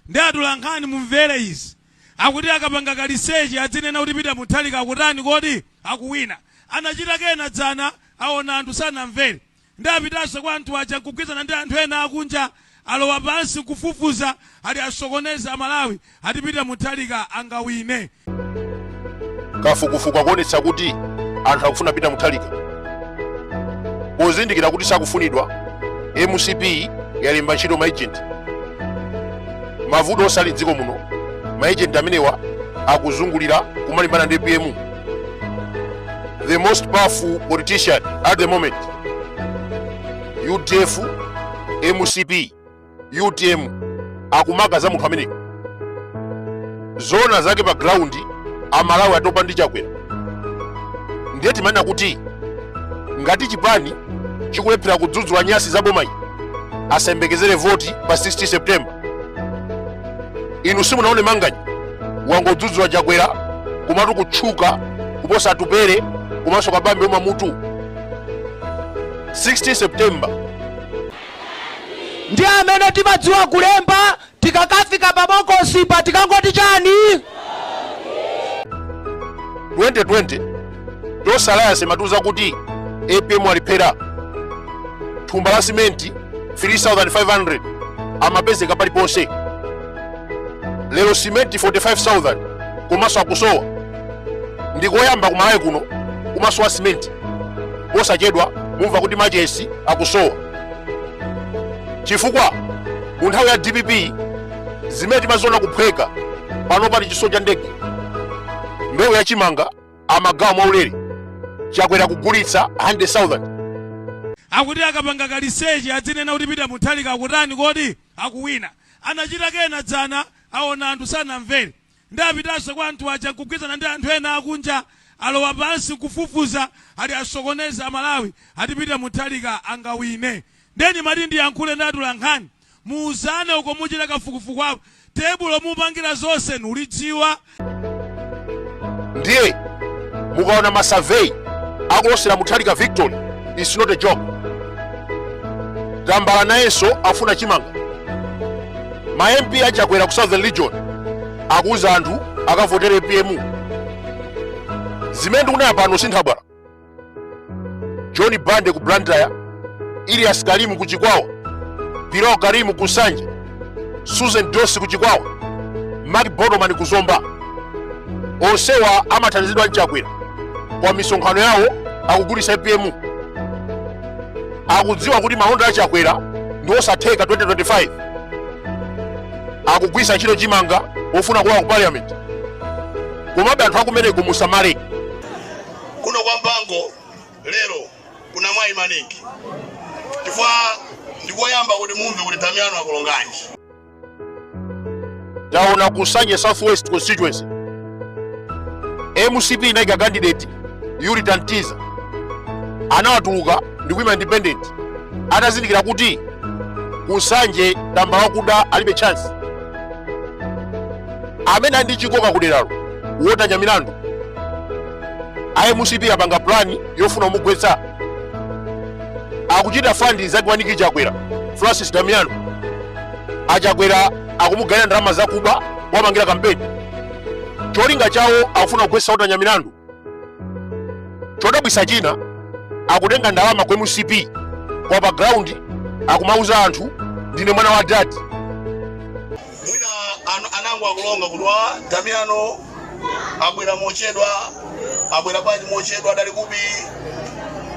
Nde atolankhani mumvere izi. Akuti akapanga ka research adzinena kuti Peter Mutharika akutani kodi? Akuwina. Anachita kena dzana aona anthu sanamvere. Nde apitanso kwa anthu aja nkugwirizana ndi anthu ena akunja alowa pansi nkufufuza ati asokoneze a Malawi ati Peter Mutharika angawine. kafukufuku akuonetsa kuti anthu akufuna peter mutharika pozindikira kuti sakufunidwa mcp yalemba ntchito maejenti mavuto onse ali mdziko muno maejenti amenewa akuzungulira kumalimbana ndi apm the most powerful politician at the moment udf mcp utm akumakamba za munthu ameneyo zoona zake pa ground amalawi atopa ndi chakwera ndiye timanena kuti ngati chipani chikulephera kudzudzula nyasi za bomayi asayembekezere voti pa 16 september inu simunaone manganya wangodzudzula chakwera kumatu kutchuka kuposa atupele komanso kabambe umamutu 16 september ndi amene timadziwa kulemba tikakafika pa bokosipa tikangoti chani 2020 Tonse Alliance imatiuza kuti apm alephera thumba la simenti 3500 amapezeka paliponse lero simenti 45000 komanso akusowa ndikoyamba kumalawi kuno kumasowa simenti posachedwa mumva kuti machesi akusowa chifukwa mu nthawi ya dpp zimene timaziona kuphweka pano pali chitsulo cha ndege mbewu ya chimanga amagawa mwaulere chakwera kugulitsa 100,000 akuti akapanga ka research adzinena kuti peter mutharika akutani kodi akuwina anachita kena dzana aona anthu sanamvere Nde apitanso kwa anthu aja nkugwirizana ndi anthu ena akunja alowa pansi nkufufuza ati asokoneze amalawi ati peter mutharika angawine nde ndimati ndiyankhule ndi atolankhani muuzane uko muchita kafukufuku wa pa tebulo mupangira zonse nulidziwa ndiye mukaona masurvey akulosera mutharika victory is not a joke tambala nayenso afuna chimanga ma mp a chakwera ku southern region akuuza anthu akavotere apm zimene ndikunena pano si nthabwala john bande ku blantyre illyas karim ku chikwawa piro karim ku nsanje susan dossi ku chikwawa mark botomani ku zomba onsewa amathandizidwa ndi chakwera koma misonkhano yawo akugulitsa apm akudziwa kuti malonda a chakwera ndi osatheka 2025 akugwisa ntchito chimanga ofuna kulowa ku parliament komabe anthu akumeneko musamale kuno kwa mpango lero kuna mwayi maningi chifukwa ndikoyamba kuti mumve kuti damiano akulonganji taona ku Nsanje Southwest constituency mcp inaika candidate Eurita Ntiza anawatuluka ndi kuima independent atazindikira kuti ku Nsanje tambala wakuda alibe chance amene ali ndi chikoka kuderalo Walter Nyamilandu a mcp apanga plani yofuna kumugwetsa akuchita fandi nzake wa Nick chakwera francis damiano achakwera akumugayira ndalama zakuba wapangira kampeni cholinga chawo akufuna kugwetsa Walter Nyamilandu chodabwisa china akutenga ndalama ku mcp koma pa ground akumauza anthu ndine mwana wa dad mwina anango akulonga kuti wa damiano abwera mochedwa abwera bwanji mochedwa adali kupi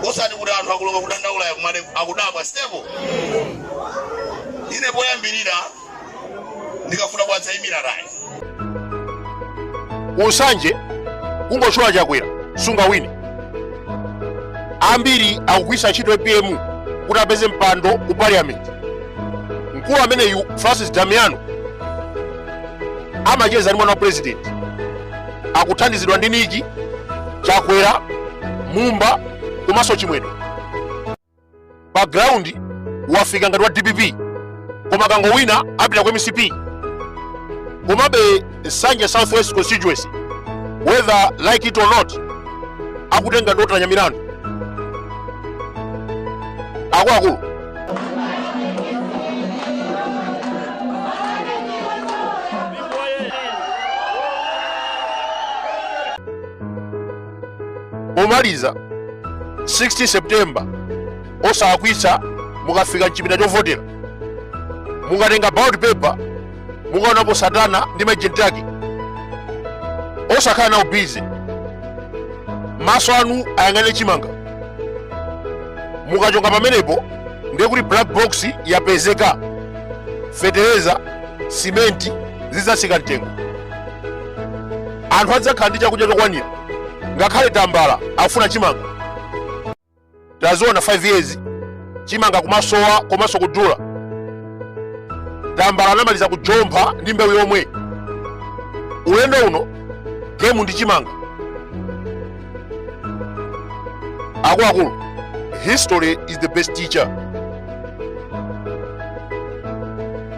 osati kuti anthu akulonga kudandaula yakumane akudabwa sitepo ine poyambirira ndikafuna kuwadzayimira tayi ku Nsanje kungotchula chakwera sungawine ambiri akugwisa ntchito apm kuti apeze mpando ku parliament mkulu ameneyu francis damiano amacheza ndi mwana wa president akuthandizidwa ndi Nick chakwera mumba komanso chimwendo pa ground wafika ngati wa dpp koma kangowina apita ku mcp komabe Nsanje southwest constituency whether like it or not akutenga ndi Walter Nyamilandu akuluakulu omaliza 16 september osalakwitsa mukafika mchipinda chovotera mukatenga ballot paper mukaonapo satana ndi maejenti ake osakhala nawo bize maso anu ayang'ane chimanga mukachonga pamenepo ndiye kuti black box yapezeka fetereza simenti zidzatsika mtengo anthu adzakhala ndi chakudya chokwanira ngakhale tambala akufuna chimanga tinaziona 5 years chimanga kumasowa komanso kudula tambala anamaliza kujompha ndi mbewu yomwe ulendo uno gemu ndi chimanga akuluakulu history is the best teacher